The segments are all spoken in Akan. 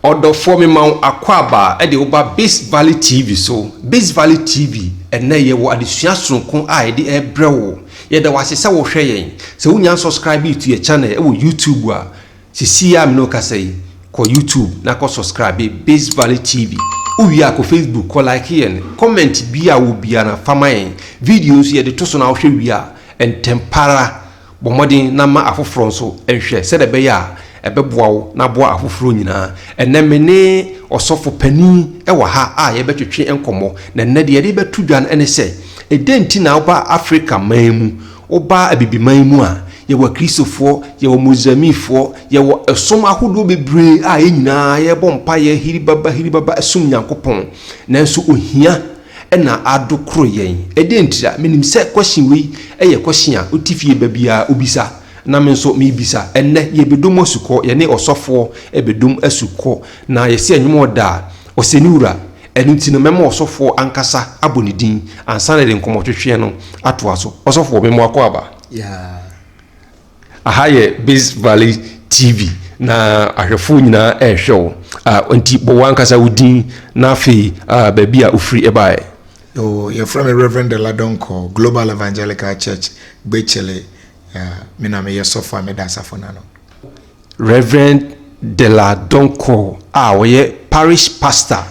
Ɔdɔfoɔ mema wo akwaaba de wo ba Biz Valley TV so. Biz Valley TV, ɛnnɛ yɛwɔ adesua sononko a yɛde rebrɛ wo. Yɛda wo ase sɛ wohwɛ yɛn. Sɛ wonnya nsɔskraibii to yɛn channel wɔ YouTube a, seesei ara a me ne wo kasa yi, kɔ YouTube na kɔ sɔskraibe Biz Valley TV. Wowie a kɔ Facebook kɔ like yɛn. Comment biara a wɔ biara fa ma yɛn. Video nso yɛde to so na wohwɛ wie a, ntɛm pa ara, Bɔ mmɔden na ma afoforɔ nso nhwɛ sɛdeɛ ɛbɛyɛ a ɛbɛboa wo na aboa afoforɔ nyinaa. Ɛnnɛ me ne ɔsɔfo panin wɔ ha a yɛrebɛtwetwe nkɔmmɔ. Na ɛnnɛ deɛ yɛde rebɛto dwa no ne sɛ, Ɛdɛn nti na woba Afrika man mu, woba Abibiman mu a, yɛwɔ Akristofoɔ, yɛwɔ Muslimfoɔ, yɛwɔ ɛsom ahodoɔ bebree a yɛn nyinaa yɛrebɔ mpaeɛ hiribaba hiribaba som Nyankopɔn, nanso ohia, na ado koro yɛn. Ɛdeɛn ntira? Menim sɛ question wei yɛ question a wote fie ba biara wobisa na me nso mebisa. Ɛnnɛ yɛbɛdom asukɔ, yɛne ɔsɔfoɔ bɛdom asukɔ na yɛse ɛnwom ɔda a Ɔsɛniwura. Ɛno nti no mɛma ɔsɔfoɔ ankasa abɔ ne din ansa na yɛde nkɔmmɔtwetweɛ no atoa so. Ɔsɔfoɔ, me mmoa kɔ aba. Yeah. Aha yɛ Biz Valley TV na ahwɛfoɔ nyinaa ɛrehwɛ wo. Ah, nti bɔ w'ankasa wo din na afei ah, baabi a wofiri ɛbaeɛ. Oh, yɛfrɛ me Rev. Dela Donkor, Global Evangelical Church, Gbekyele. Ah, me na meyɛ sɔfo a meda asafo no ano. Rev. Dela Donkor a ɔyɛ Parish Pastor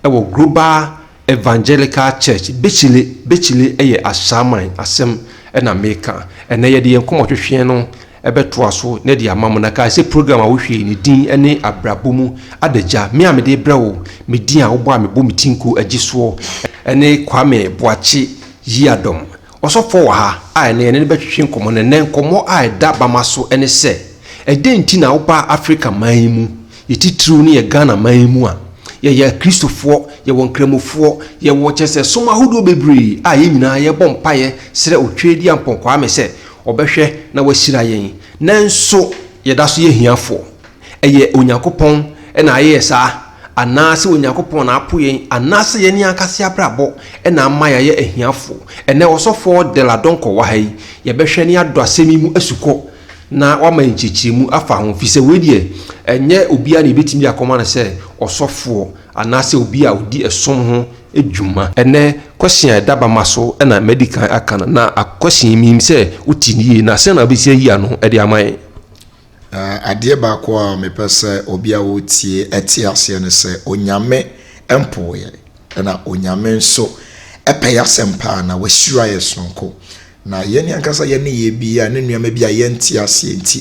ɛwɔ Global. Evangelical Church Bechile Bechile yɛ Ashaman asɛm na meka. Ɛnnɛ yɛde yɛn nkɔmmɔtwetweɛ no bɛtoa so na de ama mo. Na kae sɛ program a wohwɛ yi, ne din ne Abrabɔ Mu Adagya. Me a mede rebrɛ wo me din a wobɔ a mebɔ me ti nko gye soɔ ne Kwame Boakye Yiadom. Ɔsɔfoɔ wɔ ha a ɛnnɛ yɛne no bɛtwetwe nkɔmmɔ na ɛnnɛ nkɔmmɔ a ɛda bama so ne sɛ, Ɛdɛn nti na wobaa Afrika man yi mu? Yɛ titiriw no yɛ Ghana man yi mu a, yɛyɛ Akristofoɔ, yɛwɔ Nkramofoɔ, yɛwɔ kyerɛ sɛ som ahodoɔ bebree a yɛn nyinaa yɛbɔ mpaeɛ srɛ Otweredia Ampɔn Kwame sɛ ɔbɛhwɛ na wahyira yɛn. Nanso yɛda so yɛ ahiafoɔ. Ɛyɛ Onyankopɔn na ayɛɛ saa, anaasɛ Onyankopɔn na apo yɛn, anaasɛ yɛn ne ankasa abrabɔ na ama yɛayɛ ahiafo? Ɛnnɛ, Ɔsɔfoɔ de la Donkor wɔ ha yi. Yɛbɛhwɛ na yɛadɔ asɛm yi mu asukɔ na wama yɛn nkyerɛkyerɛmu afa ho, ɛfiri sɛ wei deɛ, ɛnyɛ obiara na yɛbɛtumi de akɔma no sɛ ɔsɔfoɔ anaasɛ obi a ɔdi ɛsom ho dwuma. Ɛnnɛ, question a ɛda bama so na madi kan aka no, na question yi, menim sɛ wote no yie, na sɛn na wobɛtumi ayi ano de ama yɛn? Adeɛ baako a mepɛ sɛ obi a ɔretie ɛte aseɛ ne sɛ Onyame mpo yɛ na Onyame nso ɛpɛ yɛ asɛm paa na wahyira yɛ sononko na yɛne ankasa yɛne yɛ bi a ne nneɛma bi a yɛnte aseɛ nti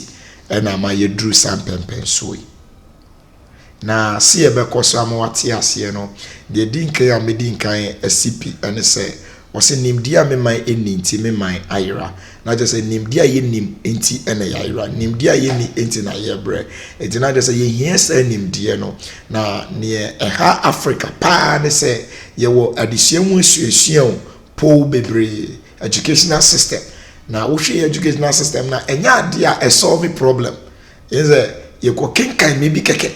ɛna ama yɛduru saa mpɛmpɛnsoɔ yi. Na se yɛbɛkɔ so ama wate aseɛ no, deɛ ɛdi nkan a mɛdi nkan asi pi ne sɛ, ɔse nimdeɛ a me man nni nti me man ayera. Na kyerɛ sɛ nimdeɛ a yɛnnim nti na yɛayera. Nimdeɛ a yɛnni nti na yɛbrɛ. Nti na kyerɛ sɛ yɛhia saa nimdeɛ no. Na neɛ ɛha Africa paa ne sɛ yɛwɔ adesua mu asuasua o, pow bebree, educational system. Na wohwɛ yɛn educational system no a, ɛnyɛ adeɛ a ɛ solve problem. Kyerɛ sɛ yɛkɔkenkan nneɛma bi kɛkɛ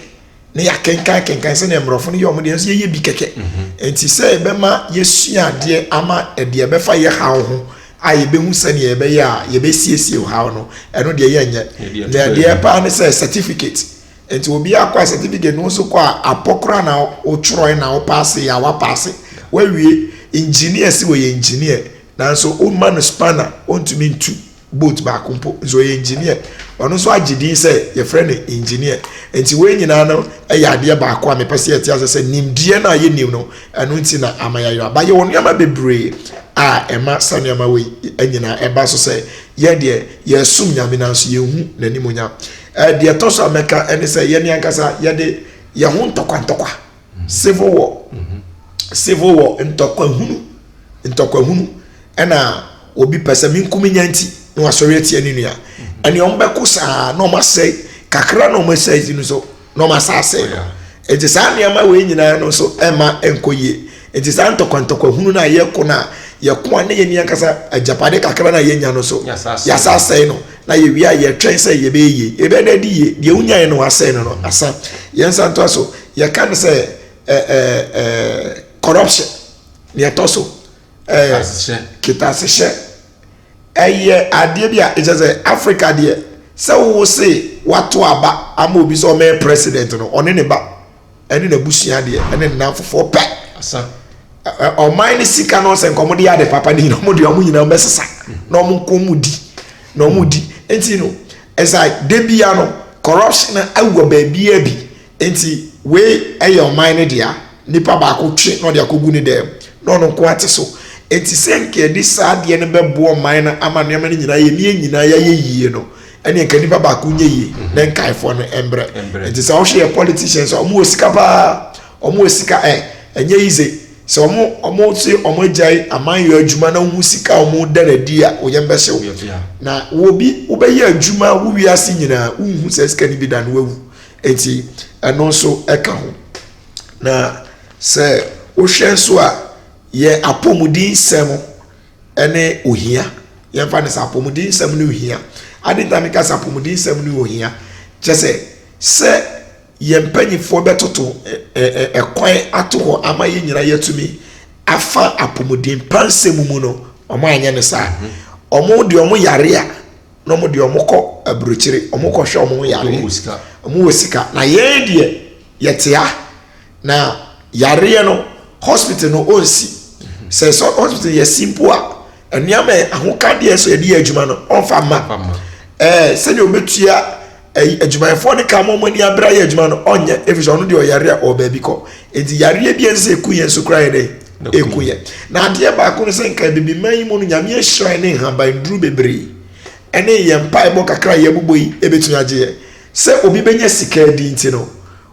na yɛakenkan kenkan sɛnea mmorɔfo no yɛ wɔn deɛ nso yɛyɛ bi kɛkɛ mhm. nti sɛ yɛbɛma yɛsua adeɛ ama ɛdeɛ ɛbɛfa yɛ haw ho a yɛbɛhu sɛnea yɛbɛyɛ a yɛbɛsiesie haw no ɛno deɛ yɛnyɛ na ɛdeɛ paa ne sɛ certificate nti obi akɔ a certificate no nso kɔ a apɔ koraa na wotwerɛe na wopaase yɛ a wapaase wawie engineer si wɔyɛ engineer nanso woma no spanner ɔntumi ntu boat baako mpo nso ɔyɛ engineer ɔno nso agye din sɛ yɛfrɛ no engineer nti wɔn nyinaa no yɛ adeɛ baako a mepɛ sɛ yɛte ase sɛ nimdeɛ no a yɛnim no ɛno nti na ama yɛayera ba yɛwɔ nneɛma bebree a ɛma sa nneɛma wei nyinaa ɛba so sɛ yɛ deɛ yɛsom nyame nanso yɛhu n'animuonyam deɛ ɛtɔ so a mɛka ɛne sɛ yɛne ankasa yɛde yɛn ho ntɔkwantɔkwa Civil war civil war ntɔkwa hunu ntɔkwa hunu ɛna obi pɛ sɛ me nku me nya nti na wasɔre atia ne nua ɛne wɔn bɛko saa na wɔn asɛe kakra na wɔn asɛe dzi no nso na wɔn asa asɛe no nti saa nneɛma wei nyinaa no nso ɛma nkɔ yie nti saa ntɔkwa ntɔkwa hunu no a yɛko no a yɛko a ne yɛ ni ankasa agyapade kakra no a yɛnya no nso yɛasa asɛe no na yɛwie a yɛtwɛn sɛ yɛbɛyɛ yie yɛbɛyɛ dɛ de yie deɛ wonyaeɛ no wasɛe no no asa yɛn nsa ntoa so yɛka no sɛ eh, eh, eh, corruption deɛ ɛtɔ so eh, kitasehyɛ ɛyɛ adeɛ bi a ɛkyɛ sɛ africa deɛ sɛ wo se wato aba ama obi sɛ ɔmɛyɛ president no ɔne ne ba ɛne n'abusua deɛ ɛne nnamfofoɔ pɛ ɔman no sika no sɛ nkɔmode yɛ ade papa no nyina ɔmode ɔmo nyina ɔmɛsesa na ɔmo nkɔ mu di na ɔmo di nti no ɛsɛ da bia no corruption awɔ baabia bi Enti wei yɛ ɔman no dea, nipa baako twe na ɔde akɔgu ne dan mu, na ɔno nko ara te so. Enti sɛ anka yɛde saa adeɛ no bɛboa ɔman no ama nneɛma no nyinaa yɛ ne yɛn nyinaa yɛayɛ yie no, ɛnneɛ anka nipa baako nyɛ yie, na nkaefoɔ no mbrɛ. Enti sɛ wohwɛ yɛn politicians a, wɔwɔ sika pa ara, wɔwɔ sika ɛ, ɛnyɛ yize. Sɛ wɔn, wɔse wɔn agyae amanyɔ adwuma na wohu sika a wɔda no adi a, wo yam bɛhye wo. Na wɔ bi, wobɛyɛ adwuma wo wiase nyinaa, wonhu saa sika no bi da na woawu. Enti ɛno nso ka ho. Na sɛ wohwɛ nso a, yɛ apɔmuden nsɛm ne ohia. Yɛmfa no sɛ apɔmuden nsɛm ne ohia. Ade nti a meka sɛ apɔmuden nsɛm ne ohia, kyɛ sɛ sɛ yɛn mpanimfoɔ bɛtoto kwan ato hɔ ama yɛn nyinaa yɛatumi afa apɔmuden pa nsɛm mu no, wɔanyɛ no saa. Wɔn deɛ wɔn yare a na wɔn deɛ wɔn kɔ aburokyire wɔn kɔ hwɛ wɔn yareɛ wɔn wɔ sika na yɛn deɛ yɛte ha na yareɛ no hospital no ɔnsi sɛ sɛ hospital yɛ si mpo a nneɛma ahokadeɛ sɛ yɛde yɛ adwuma no ɔnfa mma ɛɛ sɛdeɛ wɔbɛtua. ɛyi adwumayɛfoɔ no ka ma wɔn ani abere ayɛ adwuma no ɔnyɛ efisɛ ɔno deɛ ɔyare a ɔwɔ baabi kɔ nti yareɛ bi a ɛsɛ eku yɛn nso koraa yɛ dɛ eku yɛn na adeɛ baako no sɛ nka ebibiman yi mu no nyame ahyira ne nhaban duru bebree ɛne yɛn mpaebɔ kakra a yɛbobɔ yi ebetumi agye yɛn sɛ obi benya sika adi nti no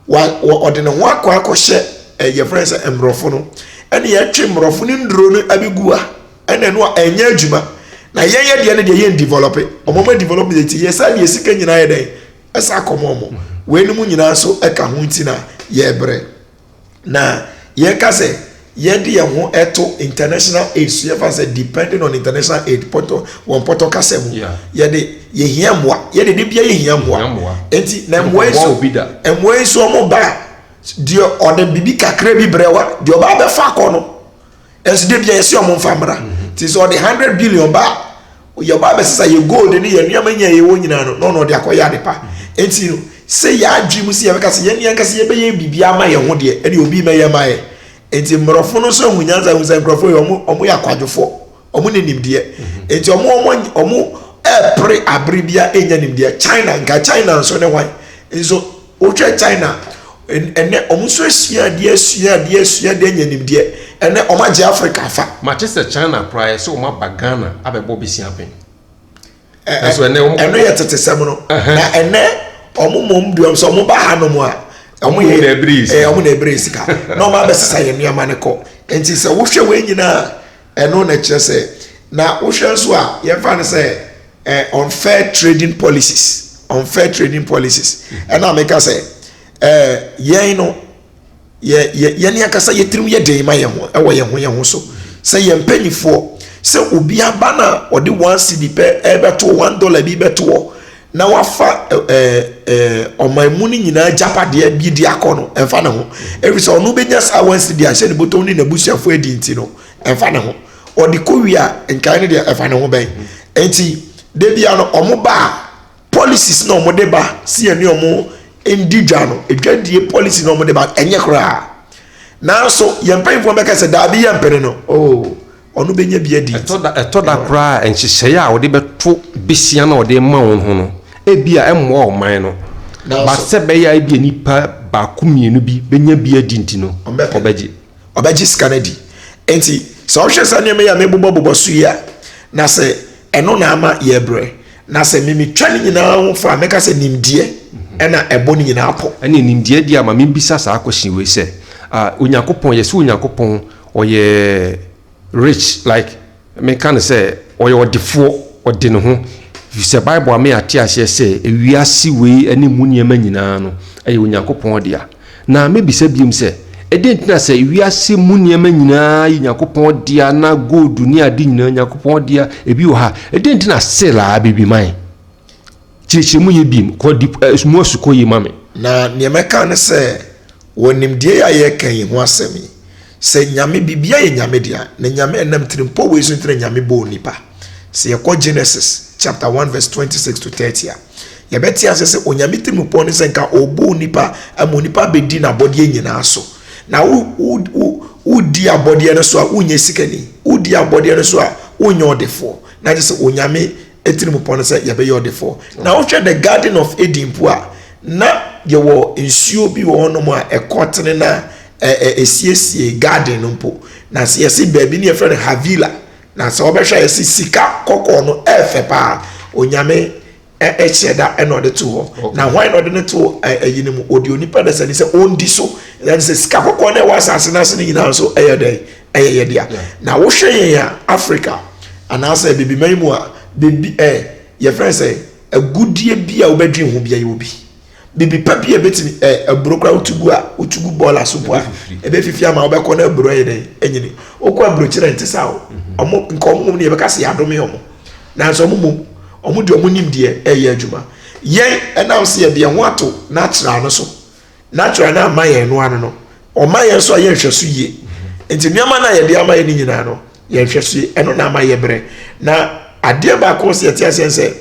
wa wɔ ɔde ne ho akɔ akɔhyɛ ɛ yɛfrɛ no sɛ mmorɔfo no ɛne yɛtwe mmorɔfo no nnuro no abɛgu a ɛna ɛno a ɛnyɛ adwuma na yɛn yɛ deɛ no deɛ yɛn develop ɔmo ɔmo develop deɛ ti yɛ saa deɛ sika nyinaa yɛ dɛn ɛsa akɔmɔ ɔmo wei no mu nyinaa nso ɛka ho nti na yɛbrɛ na yɛka sɛ Yɛde yɛn ho to international aid so yɛfa sɛ depending on international aid pɔtɔ wɔn pɔtɔ kasa mu yɛde yɛhia mmoa yɛde de bia yɛhia mmoa nti na mmoa yi so mmoa yi so wɔn ba deɛ ɔde bibi kakra bi brɛ wa deɛ ɔba abɛfa akɔ no ɛnso de bia yɛsi wɔn nfa mmra nti sɛ ɔde hundred billion ba. Yɛn ba abɛsesa yɛn gold ne yɛn nneɛma nyinaa yɛwɔ nyinaa no, na ɔno ɔde akɔyɛ ade pa. Enti no, sɛ yɛn adwene mu sɛ yɛbɛka sɛ yɛn ankasa yɛbɛyɛ biribi ama yɛn ho deɛ, ɛne obi mmɛyɛ mma yɛn. Enti mmorɔfo no nso ahu nyansa ahu sɛ nkurɔfoɔ yi wɔn wɔn yɛ akwadwofoɔ, wɔn ne nimdeɛ. Enti wɔn wɔn wɔn ɛɛpere abere biara ɛnya nimdeɛ. China, nka China nso ne hwan nso. Wohwɛ China ɛnɛ wɔn nso asua adeɛ asua adeɛ asua adeɛ anya nimdeɛ ɛnɛ wɔn agye Africa afa. Mate sɛ China koraa yɛ sɛ wɔn aba Ghana abɛbɔ besia pɛn. Ɛso ɛnɛ wɔn. Ɛno yɛ tete sɛm no. Na ɛnɛ wɔn mmom deɛ wɔn sɛ wɔn ba ha nom a. Wɔn yɛ ɛɛ wɔn na ɛbere sika na wɔn abɛsesa yɛn nneɛma no kɔ. Nti sɛ wohwɛ wɔn nyinaa. Ɛno na ɛkyerɛ sɛ, na wohwɛ nso a, yɛmfa no sɛ eh, unfair trading policies, unfair trading policies. Ɛna meka sɛ, eh, yɛn no, yɛ, yɛ, yɛne ankasa yɛtirim yɛ den ma yɛn ho, ɛwɔ yɛn ho yɛn ho so. Sɛ yɛn mpanimfoɔ, sɛ obi aba na ɔde one cedi pɛ ɛbɛtoɔ, one dollar bi bɛtoɔ, na wafa ɛɛ ɛɛ ɔman mu no nyinaa agyapadeɛ bi de akɔ no ɛmfa ne ho ɛfiri sɛ ɔno bɛnya saa wɔn si de ahyɛ ne bɔtɔm ne n'abusuafoɔ adi nti no ɛmfa ne ho ɔde kɔ wie a nkae no deɛ ɛfa ne ho bɛn nti da bia no wɔn ba a policies na wɔn de ba si yɛn ne wɔn ndi dwa no dwadie policy na wɔn de ba ɛnyɛ koraa nanso yɛn mpanyinfoɔ bɛka sɛ daabi yɛn mpene no oo. Oh. Ɔno bɛnya bi adi nti. Ɛtɔ da koraa a, nhyehyɛeɛ a wɔde bɛto besia no a wɔde rema wɔn ho no, ebia ɛmmoa ɔman no. But sɛ ɛbɛyɛ a ebia nnipa baako mmienu bi bɛnya bi adi nti no, wɔbɛgye. Wɔbɛgye sika no adi. Enti sɛ wohwɛ saa nneɛma yi a mebobɔbobɔ so yi a, na sɛ ɛno na ama yɛrebrɛ. Na sɛ me metwa ne nyinaa ho fo a, mɛka sɛ nimdeɛ na ɛbɔ ne nyinaa pɔ. Ɛnneɛ nimdeɛ deɛ ama mebisa saa question wei sɛ, Onyankopɔn, yɛse Onyankopɔn, Ɔyɛ rich like meka no sɛ ɔyɛ ɔdefoɔ ɔde ne ho efisɛ bible ama yɛ ate aseɛ sɛ ewiase wei ɛne emu nneɛma nyinaa no ɛyɛ onyankopɔn dea na mebisa biom sɛ ɛdɛn nti na sɛ ewiase mu nneɛma nyinaa yɛ nyankopɔn dea na gold ne ade nyinaa nyankopɔn dea ebi wɔ ha ɛdɛn nti na sale a bɛbi man Kyerɛkyerɛ mu yie bio, kɔ di mu asukɔ yie ma me. Na neɛ mɛka ne sɛ, wɔ nimdeɛ yi a yɛreka yi ho asɛm yi, sɛ Nyame, biribiara yɛ Nyame dea, na Nyame, ɛnam tirimpɔ wei so nti na Nyame bɔɔ nnipa. Sɛ yɛkɔ Genesis chapter one verse twenty six to thirty a, yɛbɛte aseɛ sɛ Onyame tirimupɔ ne sɛ nka ɔrebɔ onipa ama onipa abɛdi n'abɔdeɛ nyinaa so. Na wo, wo, wo, wodi abɔdeɛ no so a, wonyɛ sikani. Wodi abɔdeɛ no so a, wonyɛ ɔdefoɔ. Na kyerɛ sɛ Onyame atirimpɔ no sɛ yɛbɛyɛ ɔdefoɔ na wohwɛ the garden of eden mpo a na yɛwɔ nsuo bi wɔ hɔnom a ɛkɔ tene no a ɛsiesie garden no mpo na sɛ yɛse baabi no yɛfrɛ no havila na sɛ wɔbɛhwɛ a yɛse sika kɔkɔɔ no ɛfɛ paa onyame ɛhyɛ da ɛna ɔde to hɔ na hwan na ɔde no to ɛyi no mu ɔde onipa dasani sɛ ɔndi so ɛne sɛ sika kɔkɔɔ no ɛwɔ asase no ase no nyinaa nso ɛyɛ dɛn ɛyɛ yɛ dea na wohwɛ yɛn a Africa anaasɛ abibiman mu a bebi ɛ yɛfrɛ sɛ agudeɛ bi a wobɛdwen ho bia yɛwɔ bi bibi pa bi a ɛbɛtumi ɛ aburo koraa wotugu a wotugu bɔɔl aso po a ɛbɛfifiri ama wobɛkɔ na aburo ɛyɛ dɛn ɛnyini wokɔ aburokyerɛ nte saa o ɔmo nka ɔmo mom no yɛbɛka sɛ yɛadome ɔmo nanso ɔmo mom ɔmo de ɔmo nimdeɛ ɛyɛ adwuma yɛn ɛnam sɛ yɛde yɛn ho ato n'akyerɛ ano so Natural no amma yɛn no ano no, ɔma yɛn nso a yɛ nhwɛso yie. Nti nneɛma no a yɛde ama yɛ no nyinaa no, yɛ nhwɛso yie. Ɛno na ama yɛ berɛ. Na adeɛ baako sɛ yɛte aseɛ sɛ,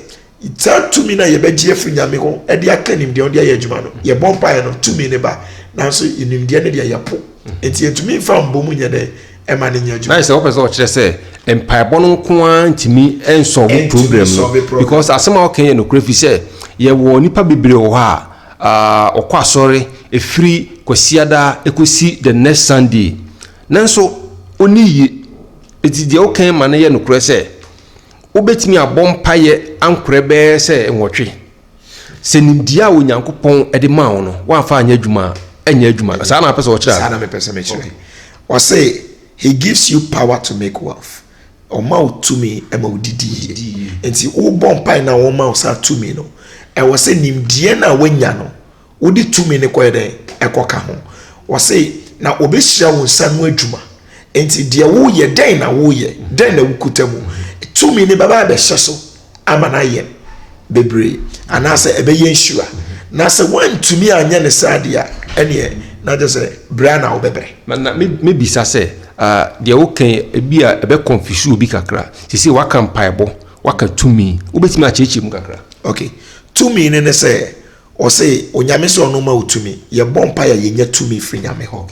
saa tumi no a yɛbɛgye afiri Nyame hɔ de aka nimdeɛ ɔde ayɛ adwuma no, yɛbɔ mpaeɛ no, tumi no ba. Nanso nimdeɛ no deɛ yɛpo. Nti yɛntumi mfa mbɔ mu nyɛ dɛn ɛma no nyɛ adwuma. Nice, wɔpɛ sɛ ɔkyerɛ sɛ mpaebɔ no nko ara ntumi nsɔlve problem no because asɛm a ɔka yɛ nokorɛ fi sɛ yɛwɔ nipa bebree wɔ hɔ a Ahh ɔkɔ asɔre ɛfiri kwasiada ɛkɔsi the next Sunday nanso ɔnni yie ɛti deɛ wo kan ma no yɛ nokorɛ sɛ wobɛtumi abɔ mpaeɛ ankorɛ bɛyɛ sɛ nwɔtwe sɛ nimdeɛ a Onyankopɔn de maa wo no woamfa anyɛ adwuma a ɛnyɛ adwuma no saa na wopɛ sɛ wɔkyerɛ anaa? Saa na mepɛ sɛ mekyerɛ. Ɔse he gives you power to make wealth. Wɔma wo tumi ma wodidi yie. Enti wobɔ mpae na wɔma wo saa tumi no, ɛwɔ sɛ nimdeɛ no a woanya no, wode tumi no kɔyɛ dɛn? Ɛkɔka ho. Wɔse, na wɔbɛhyira wo nsa ano adwuma. Enti deɛ woreyɛ, dɛn na woreyɛ? Dɛn na wokuta mu? Tumi no bɛba abɛhyɛ so. ama no ayɛ bebree anaasɛ ɛbɛyɛ nhyira na sɛ woantumi anyɛ ne saa deɛ a ɛneɛ na kyɛ sɛ berɛ na wobɛbrɛ na na mebisa sɛ deɛ woka ebi a ɛbɛ confuse obi kakra sisi waka mpaebɔ waka tumi wobɛtumi akyerɛkyerɛ mu kakra okay tumi ne ne sɛ Ɔse Onyame sɛ ɔno ma wo tumi. Yɛbɔ mpae a yɛnya tumi firi Nyame hɔ.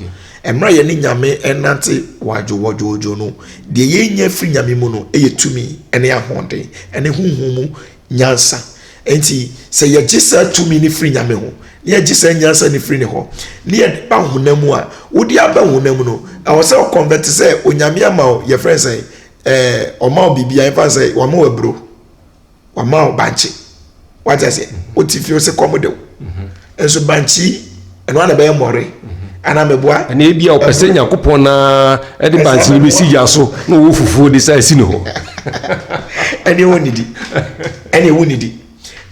Mmerɛ a yɛne Nyame renante wadwowɔdwoodwoo no, deɛ yɛnya firi Nyame mu no yɛ tumi ne ahoɔden ne honhom mu nyansa. Enti sɛ yɛgye saa tumi no firi Nyame ho, na yɛgye saa nyansa no firi Ne hɔ, na yɛde ba honam mu a, wode aba honam mu no, ɛwɔ sɛ wo convert sɛ Onyame ama wo, yɛfrɛ no sɛn, ɛɛ, Ɔma wo biribiara, yɛmfa no sɛ Wama wo aburo. wama wo bankye wate aseɛ wote fie sɛ kɔm de wo nso bankye yi ɛno ana bɛyɛ mmɔre ana mɛboa ɛna ebi a ɔpɛ sɛ nyankopɔn na ɛde bankye yi bɛsi gya so na ɔwɔ fufuo de sɛ asi ne hɔ ɛne ɛwɔ ne di ɛne ɛwɔ ne di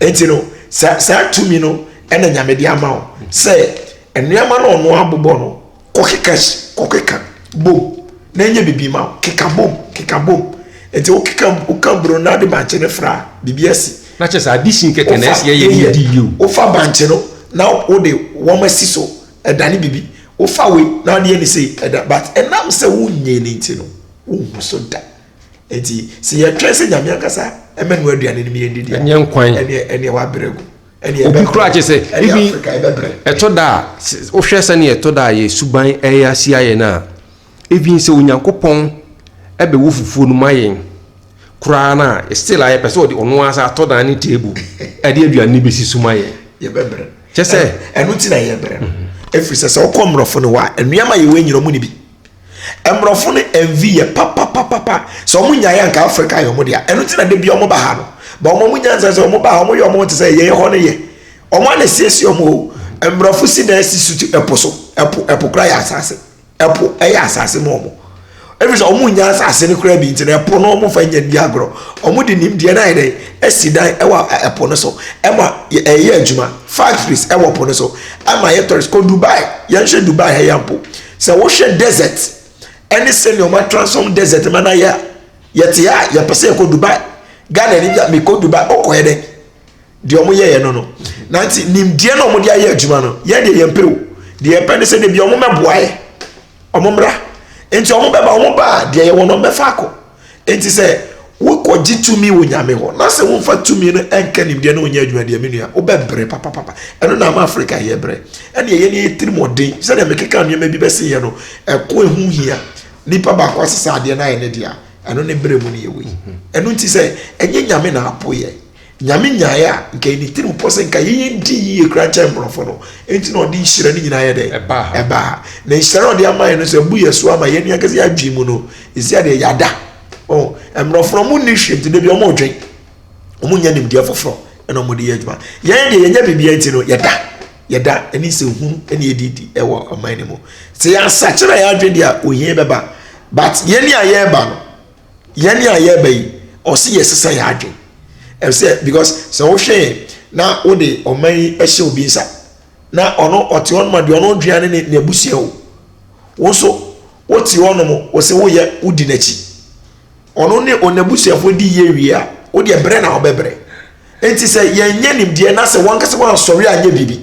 nti no saa tumi no ɛna nyame de ama wo sɛ nneɛma no ɔno abobɔ no kɔkeka si kɔkeka bom na ɛnyɛ biribi ma wo keka bom keka bom nti wo keka wo ka bro na de bankye ne fra biribi asi na kyɛ sɛ ade sin kɛkɛ na ɛsi ɛyɛ ne di yio wofa bankye no na wode wɔn asi so ɛdane biribi wofa wei na adeɛ ne sei ɛda but ɛnam sɛ wonyɛ ne nti no wohu so da nti sɛ yɛtwɛn sɛ nyame ankasa ɛmɛ no aduane no mu yɛn didi ɛnyɛ nkwan ɛneɛ ɛneɛ wabrɛ gu Obi koraa kyerɛ sɛ ebi ɛtɔ da a wohwɛ sɛnea ɛtɔ da a yɛ suban ɛyɛ asi ayɛ no a ebi sɛ Onyankopɔn ɛbɛwɔ fufuo no ma yɛn koraa no a still a yɛpɛ sɛ ɔde ɔno ara sɛ atɔ dan ne table ɛde aduane no bɛsi so ma yɛn. Yɛbɛbrɛ. Kyɛ sɛ. Ɛno ti na yɛbrɛ no. Ɛfiri sɛ sɛ wokɔ mmorɔfo no hɔ a nnuama yɛwɔ nyina ɔmo ne bi. Mmorɔfo no MV yɛ papapapapa. Sɛ wɔn nyaeɛ anka Africa yɛ wɔn dea. Ɛno nti na da bi wɔn ba ha no. Ba wɔn wɔn nyansa sɛ wɔn ba ha wɔn yɛ wɔn ho te sɛ yɛn hɔ no yɛ. Wɔn a na siesie wɔn o. Mmorɔfo si dan si suti ɛpo so. Ɛpo ɛpo kora yɛ asase. Ɛpo ɛyɛ asase ma wɔn. Ebi sɛ wɔn nya asase no kora bi nti na ɛpo no wɔn fa nya ni agorɔ. Wɔn de nim deɛ na yɛ dɛ ɛsi dan ɛwɔ ɛpo no so. Ɛma ɛyɛ adwuma factories ɛwɔ po no so. Ɛma yɛ tɔrist kɔ Dubai. Yɛn hwɛ Dubai ha yɛ mpo. Sɛ wohwɛ desert ɛne sɛnea ɔmo atransform desert ma no ayɛ a, yɛte ha a yɛpɛ sɛ yɛkɔ Dubai. Ghana ni bi a mekɔ Dubai, wokɔɛ dɛn? Deɛ ɔmo yɛɛ no no. Na nti nimdeɛ na ɔmo de ayɛ adwuma no, yɛn deɛ yɛn pɛ o. Deɛ yɛpɛ ne sɛ dabi ɔmo mɛboa yɛ, ɔmo mmra. Nti ɔmo bɛba, ɔmo ba a deɛ yɛwɔ no ɔmo bɛfa akɔ. Enti sɛ wokɔgye tumi wɔ Nyame hɔ, na sɛ womfa tumi no nka nimdeɛ na onyɛ adwuma deɛ, me nua, wobɛbrɛ papapapa. Ɛno na ama Afrika yɛbrɛ. Ɛnneɛ yɛn yɛn tirimɔden, sɛdeɛ mekeka nneɛma bi bɛseeɛ no, ɛko a ɛho hia, nipa baako asesa adeɛ na ayɛ ne dea, ɛno ne brɛ mu no yɛ wei. Ɛno nti sɛ ɛnyɛ Nyame na apo yɛn, Nyame nyaeɛ a, nka ɛyɛ ne tirim pɔ sɛ nka yɛn yɛn di yie koraa kyɛn mmorɔfo no, enti na ɔde nhyira no nyinaa yɛ dɛn? Ɛbaa ha. Ɛbaa ha. Na nhyira no a ɔde ama yɛn no nso, abu yɛn so ama yɛn nua kɛse yɛn adwene mu no, ɛsi adeɛ yɛada. Oh, mmorɔfo no, wɔn nni hwee, nti da bi wɔn redwen. Wɔn nnya nimdeɛ foforɔ, ɛna wɔn de yɛ adwuma. Yɛn deɛ yɛnya biribiara nti no, yɛda. Yɛda, ɛne nsɛ hunu, ɛne yɛdi di ɛwɔ ɔman no mu. Sɛ yɛn asakyera yɛn adwene deɛ a, ohia bɛba. But yɛn ni a yɛreba no, yɛn a yɛreba yi ɔsi yɛsesa yɛn adwene ɛsɛ because sɛ wohwɛ yɛn na wode ɔman yi ɛhyɛ obi nsa na ɔno ɔte hɔ nom a deɛ ɔno dwea ne ne n'abusua o wo nso wote hɔ nom wɔsɛ woyɛ wodi n'akyi ɔno ne ɔnabusuafoɔ di yie wie a wodeɛ brɛ na ɔbɛbrɛ Enti sɛ yɛnyɛ nimdeɛ na sɛ wankasa wansɔre anyɛ biribi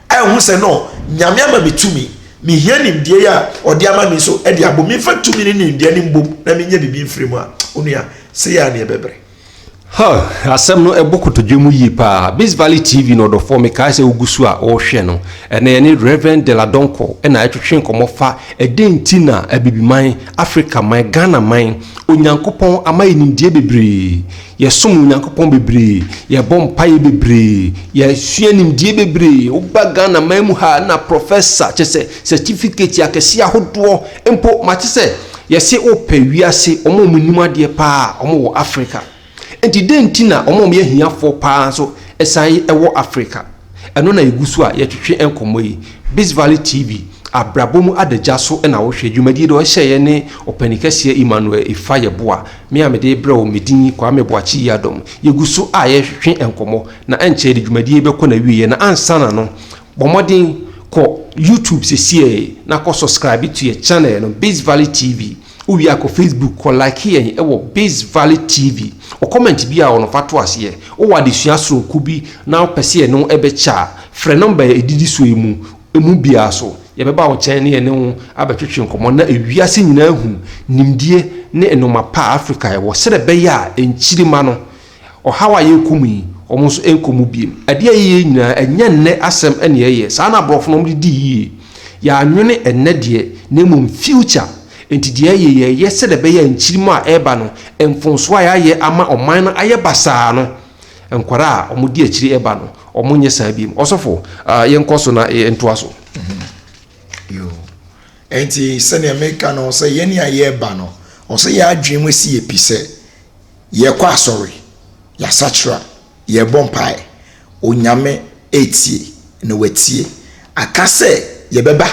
anhu sɛ no, Nyame ama me tumi, mehia nimdeɛ yi a ɔde ama me nso de abom, memfa tumi ne nimdeɛ no mbom na menyɛ biribi mfiri mu a, onua, sei ara ne ɛbɛbrɛ. Huh! Asɛm no ɛbɔ kotodwe mu yie paa. Biz Valley TV no ɔdɔfoɔ, mekae sɛ wogu so a worehwɛ no. Ɛnnɛ yɛne Rev. Della Donkor na ɛretwetwe nkɔmmɔ fa ɛdɛn nti na Abibiman, Afrika man, Ghana man, Onyankopɔn ama yɛn nimdeɛ bebree. Yɛsom Onyankopɔn bebree, yɛbɔ mpaeɛ bebree, yɛsua nimdeɛ bebree. Woba Ghana man mu ha a na prɔfɛsa kyerɛ sɛ sɛtifikati akɛseɛ ahodoɔ mpo. Mate sɛ yɛse wopɛ wiase wɔn a wɔnim adeɛ pa ara a wɔwɔ Africa. Enti dɛn nti na wɔn a wɔyɛ ahiafoɔ pa ara nso san wɔ Africa? Ɛno na yɛgu so a yɛtwetwe nkɔmmɔ yi. Bees Valley TV, abrabɔ mu adagya so na wohwɛ. Dwumadie de ɔhyɛ yɛ ne Ɔpanin Kɛseɛ Emmanuel Efa Yeboah. Me a mede rebrɛ wo, me din ni Kwame Boakye Yiadom. Yɛgu so a yɛtwetwe nkɔmmɔ, na ɛnkyɛe de dwumadie yi bɛkɔ n'awieɛ. Na ansana no, bɔ mmɔden kɔ YouTube sesiee na kɔ subscribe to yɛ channel no, Bees Valley TV. Wowie a kɔ Facebook kɔ like yɛn wɔ Biz Valley TV. Wɔ comment bi a wɔ no fa to aseɛ. Wowɔ adesua soronko bi na wopɛ sɛ yɛne wo bɛkyɛ a, frɛ number a ɛdidi so yi mu emu biara so. Yɛbɛba wo nkyɛn ne yɛne wo abɛtwetwe nkɔmmɔ na ewiase nyinaa ahu nimdeɛ ne nnoɔma pa a Afrika wɔ sɛdeɛ ɛbɛyɛ a nkyirima no Ɔhaw a yɛrekɔ mu yi, wɔn nso nkɔ mu bio. Ade a yɛyɛ yi nyinaa, ɛnyɛ nnɛ asɛm na yɛyɛ. Saa na aborɔfo no wɔde dii yie. Yɛannwene nnɛ deɛ, na mmom future. Enti deɛ ɛyɛ, yɛyɛ sɛdeɛ ɛbɛyɛ a nkyirimma a ɛreba no, mfomsoɔ a yɛayɛ ama ɔman no ayɛ basaa no, nkwadaa a wɔdi akyire reba no, wɔnyɛ saa bio. Ɔsɔfo, yɛnkɔ so na yɛntoa so. Yoo. Enti sɛdeɛ mereka no, sɛ yɛn a yɛreba no, ɛwɔ sɛ yɛn adwene mu si yɛ pi sɛ, Yɛkɔ asɔre, yɛasakyera, yɛbɔ mpae, Onyame retie na watie. Aka sɛ yɛbɛba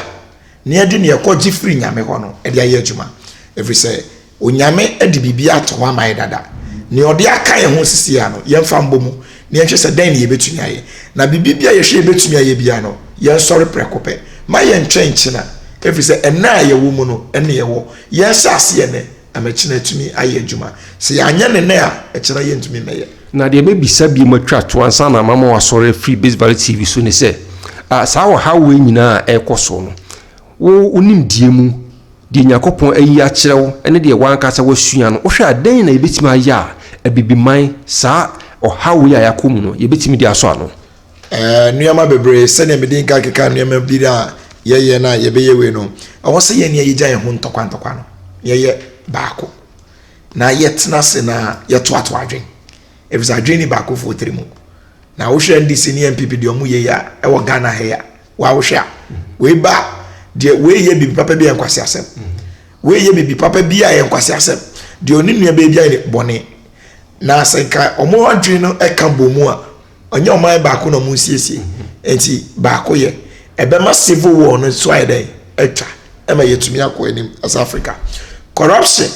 na yɛde nea yɛkɔgye firi Nyame hɔ no de ayɛ adwuma. Ɛfiri sɛ Onyame de biribiara ato hɔ ama yɛ dada. Nea ɔde aka yɛn ho seesei no, yɛmfa mmɔ mu na yɛnhwɛ sɛ dɛn na yɛbɛtumi ayɛ. Na biribi biara a yɛhwɛ yɛbɛtumi ayɛ biara no, yɛnsɔre prɛko pɛ. Mma yɛntwɛn nkyena, ɛfiri sɛ ɛnnɛ a yɛwɔ mu no, ɛnne yɛwɔ. Yɛnhyɛ aseɛ nnɛ. Na me kyen atumi ayɛ adwuma. Sɛ yɛanyɛ no nnɛ a, ɛkyena yɛntumi mmɛyɛ. Na deɛ mɛbisa bio matwa to ansa na mama wasɔre afiri Base Valley TV so ne sɛ, ah, saa ɔhaw wei nyinaa a ɛrekɔ so no, wo wo nimdeɛ mu, deɛ Onyankopɔn ayi akyerɛ wo ne deɛ w'ankasa woasua no, wohwɛ a dɛn na yɛbɛtumi ayɛ a Abibiman saa ɔhaw wei a yɛakɔ mu no yɛbɛtumi de asɔ ano? Ɛɛ nneɛma bebree, sɛdeɛ mede nka keka nneɛma bi a yɛyɛ no a yɛbɛyɛ wei no, ɛwɔ sɛ yɛn nea yɛgya yɛn ho ntɔkwa ntɔkwa no, yɛyɛ baako na yɛtena ase na yɛtoato adwene ɛfiri sɛ adwene ni baakofoɔ tiri mu na wohwɛ ndc ne npp deɛ ɔmo yɛ yi a ɛwɔ ghana ha yi a woawohwɛ a wei ba deɛ wei yɛ biribi papa bi a nkwasi asɛm wei yɛ biribi papa bi a yɛ nkwasi asɛm deɛ ɔne nua baabi a yɛ bɔne na sɛ nka ɔmo adwene no ɛka bɔ mu a ɔnyɛ ɔman baako na ɔmo nsiesie nti baako yɛ ɛbɛma civil war no so ayɛ dɛn atwa ɛma yɛtumi akɔ anim as africa corruption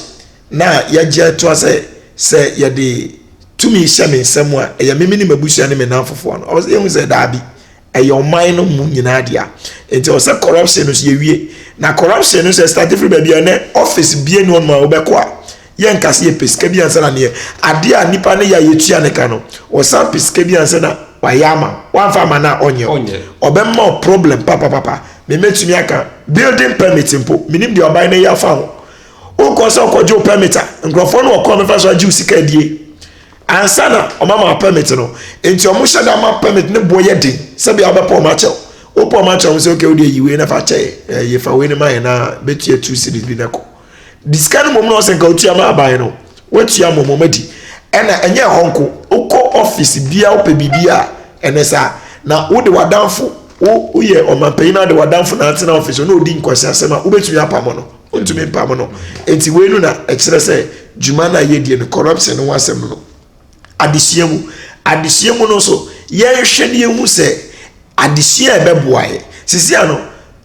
na yɛgye atoa sɛ sɛ yɛde tumi hyɛ me nsɛm a ɛyɛ mimi ne m'abusua ne me nan fofoɔ no ɔwɔ sɛ yɛhu sɛ daabi ɛyɛ ɔman no mu nyinaa deɛ nti ɔwɔ sɛ corruption no so yɛwie na corruption no sɛ start firi baabi a ɛnɛ office bie ne ɔnom a wobɛkɔ a yɛnka sɛ yɛpɛ sika bi ansa na neɛ adeɛ a nipa ne yɛ a yɛtua ne ka no ɔsan pɛ sika bi ansa na wayɛ ama wamfa ama no a ɔnyɛ ɔbɛma wo problem papapapa memɛtumi aka building permit mpo menim deɛ ɔban no yɛ afa ho wokɔ sɛ ɔkɔgye wo permit a nkurɔfoɔ no wɔkɔ mɛfa so agye wo sika adie ansa na ɔmama permit no nti ɔmo hyɛ da ma permit ne boɔ yɛ den sɛbi a wobɛpɔ ɔmo akyɛw wopɔ ɔmo akyɛw sɛ okay wodeɛ yi wei na fa kyɛ yɛ yɛfa wei no ma yɛ na bɛtua two series bi na kɔ de sika no mmom na ɔsɛ nka otua ma aban no watua mmom wɔn adi ɛna ɛnyɛ ɛhɔ nko wokɔ ɔfis bia wopɛ biribi a ɛnɛ saa na wode wadanfo woyɛ ɔmanpanyin na de wadanfo na atena ɔfis na odi nkwasi asɛm a wobɛtumi apamo no wontumi mpamo no enti wei no na ɛkyerɛ sɛ dwuma no a yɛdie no corruption no ho asɛm no adesua mu. Adesua mu no nso, yɛnhwɛ na yɛhu sɛ adesua a ɛbɛboa yɛ. Sisi ano,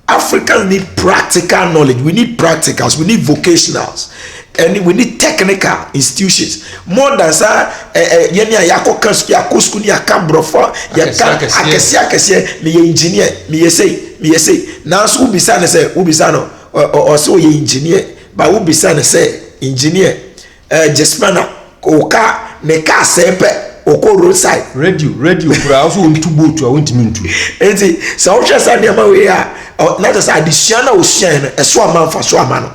Africa need practical knowledge, we need practicals, we need vocationals, and we need technical institutions. More than sɛ ɛ ɛ yɛn a yɛakɔ ka sukuu, yɛakɔ sukuu ni yɛaka borɔfo, yɛka akɛseɛ akɛseɛ, meyɛ engineer, meyɛ sei, meyɛ sei. Nanso wobisa no sɛ, wobisa no, ɔsɛ ɔyɛ engineer, ba wobisa no sɛ engineer. ɛɛ gyesima na ɔkaa ne kaa sɛɛ pɛ ɔkɔ road side. radio radio koraa ɔsɛ ɔntu boat a ɔntumi ntu. nti sɛ wohwɛ saa nneɛma wei a na kyɛ sɛ adesua na ɔsuae no ɛso ama mfa so ama no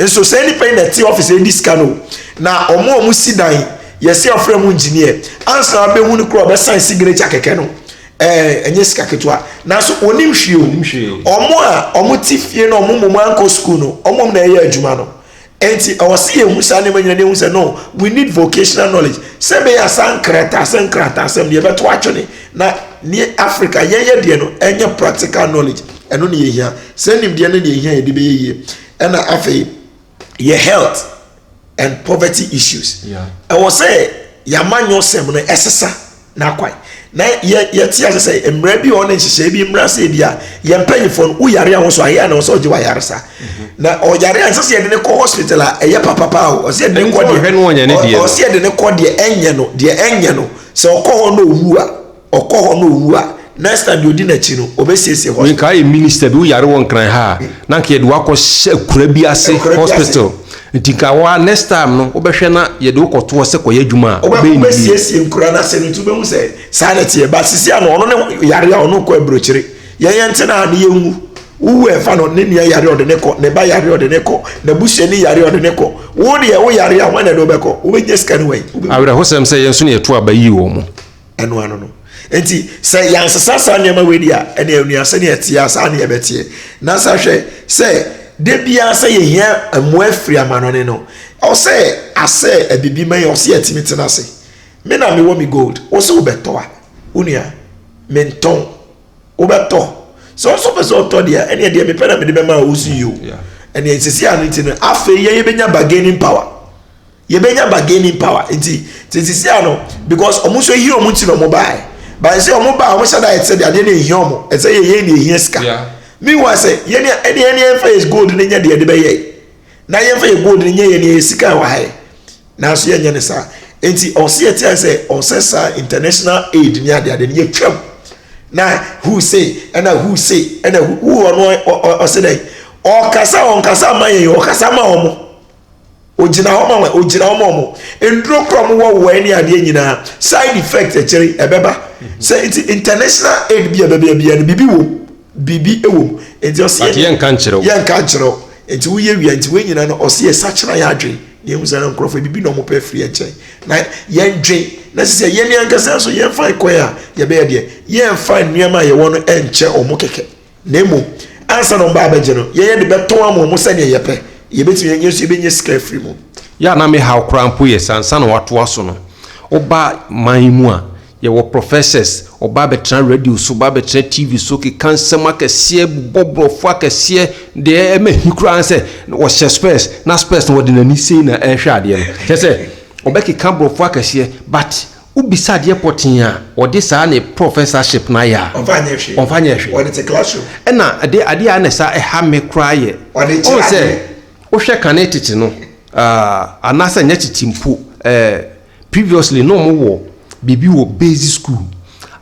nso sɛ nipa yi na ɛte ɔfis ɛdi sika no na ɔmo a ɔmo si dan yɛsi ɔfrɛ mu engineer ansa abɛhu no kora ɔbɛsan signature kɛkɛ no ɛɛ ɛnyɛ sika ketewa nanso onim hwee o ɔmo a ɔmo ti fie na ɔmo mom ankɔ sukuu no ɔmo na ɛyɛ adwuma no. Enti ɔwɔ sɛ yɛhu saa nneɛma nyina na yɛhu sɛ no, we need vocational knowledge sɛ ɛbɛyɛ a saa nkrataasɛm nkrataasɛm no yɛbɛto atwene na ne Africa yɛyɛ deɛ no ɛnyɛ practical knowledge ɛno na yɛhia. Saa nimdeɛ no na yɛhia yɛde bɛyɛ yie. Ɛna afei yɛ health and poverty issues ɛwɔ sɛ yɛamanyɔsɛm no ɛsesa. n'akwan na yɛ yɛte ase sɛ mmerɛ bi wɔ ne nhyehyɛe bi mmerɛ sɛ bi a yɛn mpanyinfoɔ no woyare a ho so ayɛ a na ɔsɛ ɔgye wɔ ayaresa mhm. na ɔyare a ɛsɛ sɛ yɛde ne kɔ hospital a ɛyɛ papapa o ɔsɛ yɛde ne kɔ deɛ ɔsɛ yɛde ne kɔ deɛ ɛnyɛ no deɛ ɛnyɛ no sɛ ɔkɔ hɔ na owu a ɔkɔ hɔ na owu a Next time deɛ odi n'akyi no obesiesie hospital. Meka yɛ minister bi wo yare wɔ nkran ha a na nka yɛde wakɔ hyɛ akura bi ase hospital nti nka wo a next time no wo bɛhwɛ na yɛde wo kɔto hɔ sɛ kɔyɛ adwuma a ɔbɛyɛ ne yie. Obesiesie nkura no ase no nti wobɛhu sɛ saa na ɛteɛ but sisi ano ɔno ne yare a ɔno kɔ aburokyire yɛn yɛn te na ne yɛn wu wo wu ɛnfa no ne nua yare ɔde ne kɔ ne ba yare ɔde ne kɔ na busua ni yare ɔde ne kɔ wo deɛ wo yare a wɔn na ɛde wobɛkɔ wobɛnya sika no wɛn. Awerɛhosɛm sɛ yɛn nso na yɛto aba yi wɔn. ɛno ano no nti sɛ yɛansesa saa nneɛma wei di a ɛne anua sɛdeɛ ɛteɛ a saa ne yɛbɛteɛ na sa hwɛ sɛ da biara sɛ yɛhia mmoa firi amanɔne no ɔsɛ asɛ abibi ma yɛ ɔsɛ yɛtumi tena ase me na mewɔ me gold wo sɛ wobɛtɔ a wo nua mentɔn wobɛtɔ sɛ ɔsɛ pɛ sɛ ɔtɔ deɛ ɛne ɛdeɛ mepɛ na mede bɛma a wo so yio ɛne ɛsisi ano nti no afei yɛyɛbɛnya bargaining power yɛbɛnya bargaining power nti te sisi a no because wɔn nso ehia wɔn ti na wɔn baa yɛ baa sɛ wɔn baa wɔn hyɛ da yɛ te sɛ deɛ adeɛ na ehia wɔn ɛsɛ yɛ yɛn na ehia sika meanwhile sɛ yɛn ni ɛni yɛn ni yɛn fɛ yɛ gold ne nyɛ deɛ ɛde bɛyɛ na yɛn fɛ yɛ gold ne nyɛ yɛn ni yɛ sika ɛwɔ ha yɛ nanso yɛn nyɛ ne saa nti ɔsi yɛ te yɛ sɛ ɔsɛ saa international aid ni adeɛ adeɛ ni yɛ twɛm na who say ɛna who say ɛna who ɔno ɔsɛ dɛ ɔkasa ɔnkasa ama yɛn ɔkasa ama wɔn. Ogyina hɔ ma wɔn, ogyina hɔ ma wɔn. Nnuro kura wɔn wɔ wɔn ne adeɛ nyinaa. Side effect akyire ɛbɛba. Sɛ nti international aid bi a ɛbɛbɛ biara no biribi wɔ mu. Biribi wɔ mu. Nti ɔsi yɛ deɛ. But yɛn nka nkyerɛw. Yɛn nka nkyerɛw. Nti woyɛ wia nti wɔn nyinaa no ɔsi yɛ sakyera yɛ adwene. Yɛn hu sɛ na nkorɔfoɔ ebibi na wɔn pɛ firi yɛn nkyɛn. Na yɛn dwen na sisi a yɛn ankasa nso yɛn fa kwan a yɛbɛyɛ deɛ. Yɛn fa nneɛma a yɛwɔ no nkyɛ wɔn kɛkɛ. Na mmom, ansa na wɔba abɛgye no, yɛn yɛde bɛtɔn ama wɔn sɛdeɛ yɛpɛ. Yɛbɛtumi anya nso yɛbɛnya sika afiri mu. Yɛ a na me haw koraa mpo yɛ sɛ ansa na wɔatoa so no, woba man yi mu a, yɛwɔ professors, wɔba abɛtena radio so, wɔba abɛtena TV so, keka nsɛm akɛseɛ, bobɔ borɔfo akɛseɛ, deɛ ɛma hi koraa ne sɛ wɔhyɛ spurs, na spurs no wɔde n'ani sei na ɛrehwɛ adeɛ no, kyerɛ sɛ wɔbɛkeka borɔfo akɛseɛ, but Wo bisa adeɛ pɔtee a, ɔde saa ne professorship no ayɛ a, Ɔmfa nyɛ hwee. ɔmfa nyɛ hwee. Ɔde te classroom. Ɛna adeɛ adeɛ a na ɛsa ɛha me koraa yɛ, Ɔde kyerɛ ɔhu sɛ adeɛ. wohwɛ kane tete no, ah, anaasɛ nyɛ tete mpo, eh, previously na wɔn wɔ biribi wɔ basic school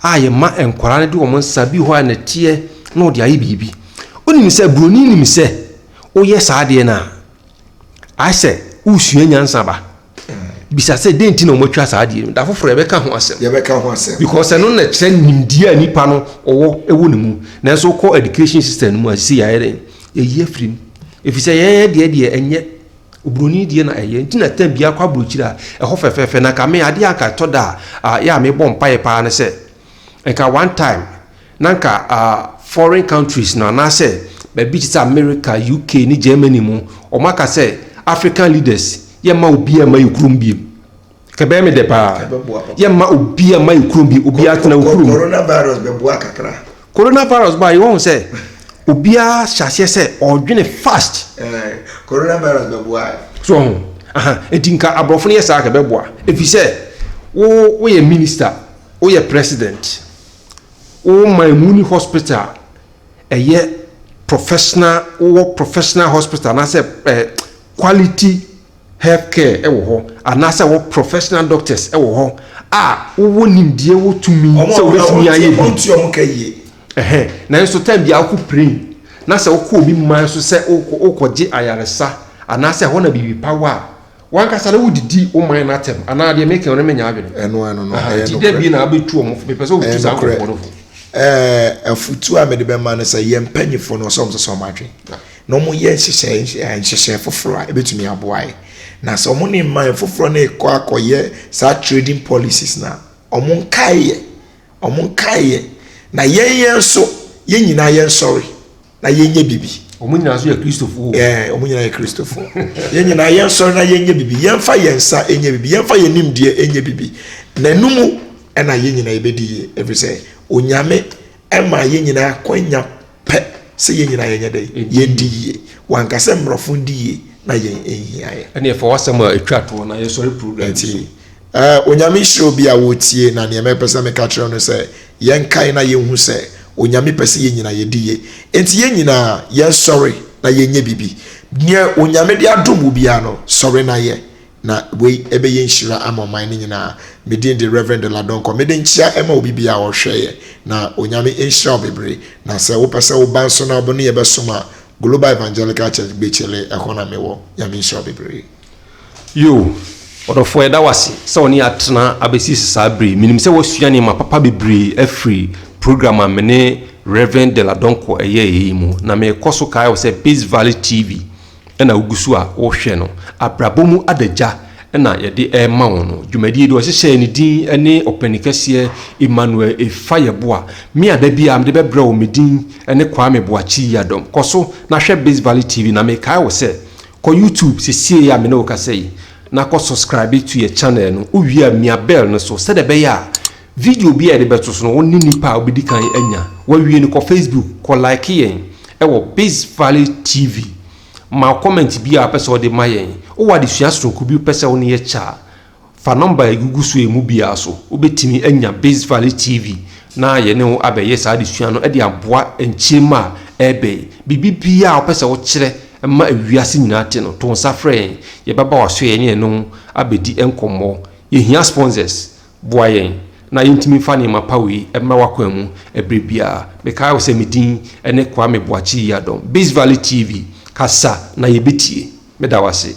a yɛma nkwadaa no de wɔn nsa bi wɔ hɔ a nɛteɛ na wɔde ayɛ biribi. Wonim sɛ buroni nim sɛ woyɛ saa adeɛ no a, ayɛ sɛ woresua nyansa ba. bisa sɛ dɛn nti na wɔatwa saa adeɛ no da foforɔ yɛbɛka ho asɛm yɛbɛka ho asɛm because ɛno na kyerɛ nimdeɛ a nipa no ɔwɔ ɛwɔ ne mu nanso wokɔ education system no mu a sisi yɛayɛ dɛn yɛyi afiri mu ɛfiri sɛ yɛn deɛ deɛ ɛnyɛ oburoni deɛ na ɛyɛ nti na tam biara kɔ aburokyiri a ɛhɔ fɛfɛɛfɛ na kame adeɛ anka ɛtɔ da a yɛ a mebɔ mpaeɛ paa no sɛ Nka one time na nka foreign countries no anaasɛ baabi te sɛ America, UK ne Germany mu wɔn aka sɛ African leaders yɛ mma obiara mma yɛ kurom biem. Nka ɛbɛyɛ me dɛ paa. Yɛ mma obiara mma yɛ kurom biem. Obiara tena wo kurom. Coronavirus bɛboa kakra. Coronavirus baa yi wɔn sɛ obiara hyɛ aseɛ sɛ ɔredwene fast. Coronavirus bɛboa. So ɔho. Aha, eti nka aborɔfo no yɛ saa nka ɛbɛboa. Efi sɛ wo woyɛ minister. woyɛ president wo man mu wonni hospital a ɛyɛ professional wowɔ professional hospital anaasɛ eh, quality health care wɔ hɔ anaasɛ wɔ professional doctors wɔ hɔ a wowɔ nimdeɛ wɔ tumi sɛ wobɛtumi ayɛ bi ɔnti ɔmo ka yie ɛhɛn nanso time bi a wokɔ plane na sɛ wokɔ obi man so sɛ wokɔ wokɔgye ayaresa anaasɛ ɛhɔ na biribi pa wɔ a wankasa na wodidi wo man no atɛm anaa deɛ meka no menya adwene ɛno ɛno no ɛyɛ nti da bi na abɛtu ɔmo fo mepɛ sɛ wotu saa nkɔfoɔ no fo afutuo a mede bɛma no sɛ yɛn mpanyifoɔ no ɔsɛ ɔmo sɛ sɛ ɔmo adwene na ɔmo yɛ nhyehyɛ nhyehyɛ foforɔ a ebetumi aboa yɛ na sɛ ɔmo ne mman foforɔ no kɔ akɔyɛ saa trading policies na ɔmo nkae yɛ ɔmo nkae yɛ na yɛn yɛn nso yɛn nyinaa yɛn sɔre. na yɛnyɛ bibi. wɔn nyinaa nso yɛ kristofo. ɛɛ wɔn nyinaa yɛ kristofo yɛn nyinaa yɛn sɔrɔ na yɛnyɛ bibi yɛnfa yɛn nsa nyɛ bibi yɛnfa yɛn nimdeɛ nyɛ bibi na ɛnumu ɛna yɛn nyinaa yɛbɛdi yie ebi sɛ onyame ɛma yɛn nyinaa kɔnya pɛ sɛ yɛn nyinaa yɛnyɛ dɛ yɛdi yie wanka sɛ mmorɔfo di yie na yɛn nhia yɛ. ɛna yɛfa wasɛm a etwa toɔ na yɛsɔre program. ɛti Eh, Onyame nhyira obi a ɔretie, na nea mɛpɛ sɛ meka kyerɛ wo no sɛ, yɛnkae na yɛnhu sɛ Onyame pɛ sɛ yɛn nyina yɛdi ye. Enti yɛn nyinaa, yɛnsɔre na yɛnyɛ biribi. Nea Onyame de adom wo biara no, sɔre na yɛ, na wei ɛbɛyɛ nhyira ama ɔman no nyinaa. Me din de Rev. Dela Donkor. Mede nkyea ɛma obi biara a ɔrehwɛ yɛ, na Onyame nhyira wo bebree. Na sɛ wopɛ sɛ woba nso na wo ne yɛ bɛsom a, Global Evangelical Church, Gbekye Leh, ɛhɔ na mewɔ. Nyame nhyira wo bebree. Yoo, ɔdɔfoɔ yɛda wo ase sɛ wɔne yɛn atena abɛsi saa berɛ yi. Menim sɛ woasua nneɛma papa bebree afiri program a me ne Rev. Della Donkor yɛeɛ yi mu. Na mekɔ so kae wo sɛ Peace Valley TV na wogu so a wohwɛ no. Abrabɔ mu adagya na yɛde rema wo no. Dwumadie yi deɛ wɔhyehyɛɛ ne din ne Ɔpanin Kɛseɛ Emmanuel Efa Yeboah. Me a da biara mede bɛbrɛ wo me din ne Kwame Boakye Yiadom. Kɔ so na hwɛ Peace Valley TV na mekae wo sɛ, Kɔ YouTube sesiei a me ne wo kasa yi na kɔ subscribe to yɛ channel no, wo wie a mia bell no so sɛdeɛ ɛbɛyɛ a video biara a yɛde bɛto so no wo ne nnipa a wobɛdi kan anya. Wawie no kɔ Facebook kɔ like yɛn wɔ Biz Valley TV, ma comment biara a wopɛ sɛ wode ma yɛn. Wowɔ adesua sononko bi wopɛ sɛ wo ne yɛkyɛ a, Fa nɔmba a egugu so yi mu biara so. Wubetumi anya Base Valley TV na yɛne wo abɛyɛ saa adesua no de aboa nkyem a ɛreba yi. Biribiara a wopɛ sɛ wokyerɛ ma wiase nyinaa te no, to nsa frɛ yɛn. Yɛbɛba w'asoɛe ne yɛne wo abedi nkɔmmɔ. Yehia sponsors. Boa yɛn na yentumi mfa nneɛma pa wei mmra w'akwan mu bere biara. Mekae wo sɛ me din ne Kwame Boakye Yiadom. Base Valley TV, kasa na yebetie. Meda wo ase.